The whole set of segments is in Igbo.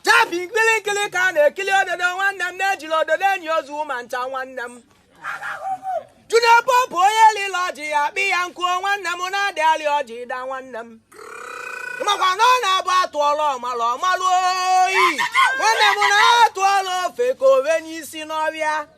jabi nkiri nkiri ka a na-ekiri ododo nwanne m na ejirọ ododo enyi ozu ma ncha nwanne m junior pope onye lịlụ ọjị ya akpa ya nkụ o nwanne m na adị alị ọjị ịda nwanne m makwa na ọ na-abụ atụọla ọmala ọmalụ oyi nwanne m na atụọla ofeke o venye isi n'ọvịa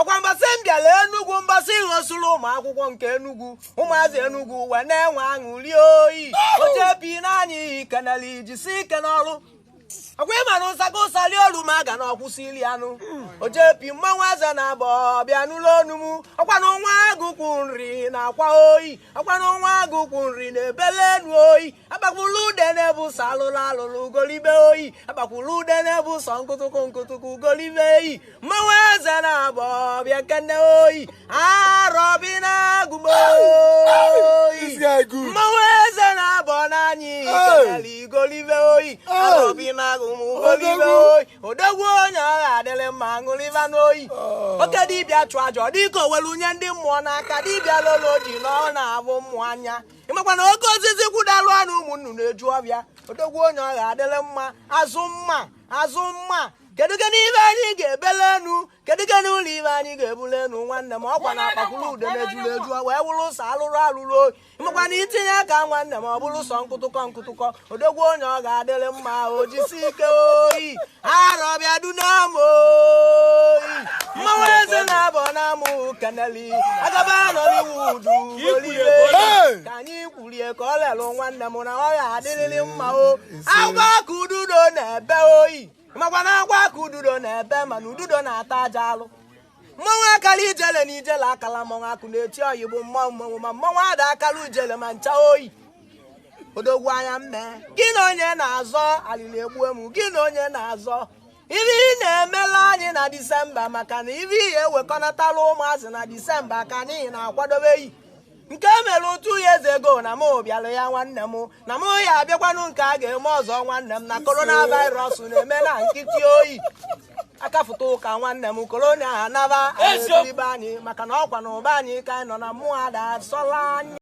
ọkwa mbọsị m bịara enugwu mbọsị gosiri ụmụ akwụkwọ nke enugwu ụmụazị enugwu wee na-enwe aṅụli oyi ojepi na anyị keneli jisi ike n'ọrụ ọkwa ịma na ụsaka ụsa lie olu ma ga na ọ kwụsị ili anụ ojepi mmanwụ eze na abọ bịa nụlụ onu m ọkwa na nwa agụkwụ nri na-akwa oyi ọkwa na nwa agụkwụ nri na-ebele enu oyi akpakwulu ude na-ebu sọ alụlụ alụlụ ugolibe oyi akpakwulu ude na-ebu sọ nkụtụkụ nkụtụkụ ugolibe eyi mmanwụ eze na abọ bịa kene oyi arọbinagụ m oyi mmanwụ eze na abọ na anyị kenela igolibe oyi arọbinagụ m ugolibe oyi odogwu onye ọ ga-adịrị mma ṅụrịba nụ oyi oh. oke dibịa chụọ aja ọ dịka o welu nye ndị mmụọ n'aka dibịa lolo ji na ọ na-avụ mmụọ anya ịmakwa na oke osisi kwudalụ anị ụmụ nnụnụ eju ọvịa odogwu onye ọ ga-adịrị mma azụ mma azụ mma kedu gịnị ive anyị ga-ebele enu kedu gịnị ụlọ ive anyị ga-ebule enu nwanne m ọkwa na akpakwuru ude na-ejuru eju wee wụrụ sọ alụrụ alụrụ oyi ịmakwa na itinye aka nwanne m ọ bụrụ sọ nkụtụkọ nkụtụkọ odogwu onye ọ ga-adịrị mma o jisi ike oyi arọbịa dunam oyi mmanwụ eze na abọ na mụ keneli agaba nollywood olile ka anyị kwurie ka ọ lelụ nwanne m na ọ ga-adịrịrị mma o agwa ka ududo na-ebe oyi makwa na agwa ka ududo na-ebe mana ududo na-ata aja alụ mmanwụ akala ijele na ijele akala mmanwụ akụ na-eti oyi bụ mmanwụ mmanwụ ma mmanwụ ada akala ijele ma ncha oyi odogwu anya mmee gị na onye na-azọ alili egbue m gị na onye na-azọ ive ị na-emela anyị na disemba maka na ive ihe ewekọnatala ụmụazị na disemba ka anyị na-akwadobe yi nke e mere two years ago na m bịara ya nwanne m na m ya-abịakwanụ nke a ga-eme ọzọ nwanne m na coronavirus na-eme na nkịtị oyi akafụta ụka nwanne m corona anaba anyị maka na ọkwa na ụba anyị ka anyị nọ na mmụọ ada asọla anya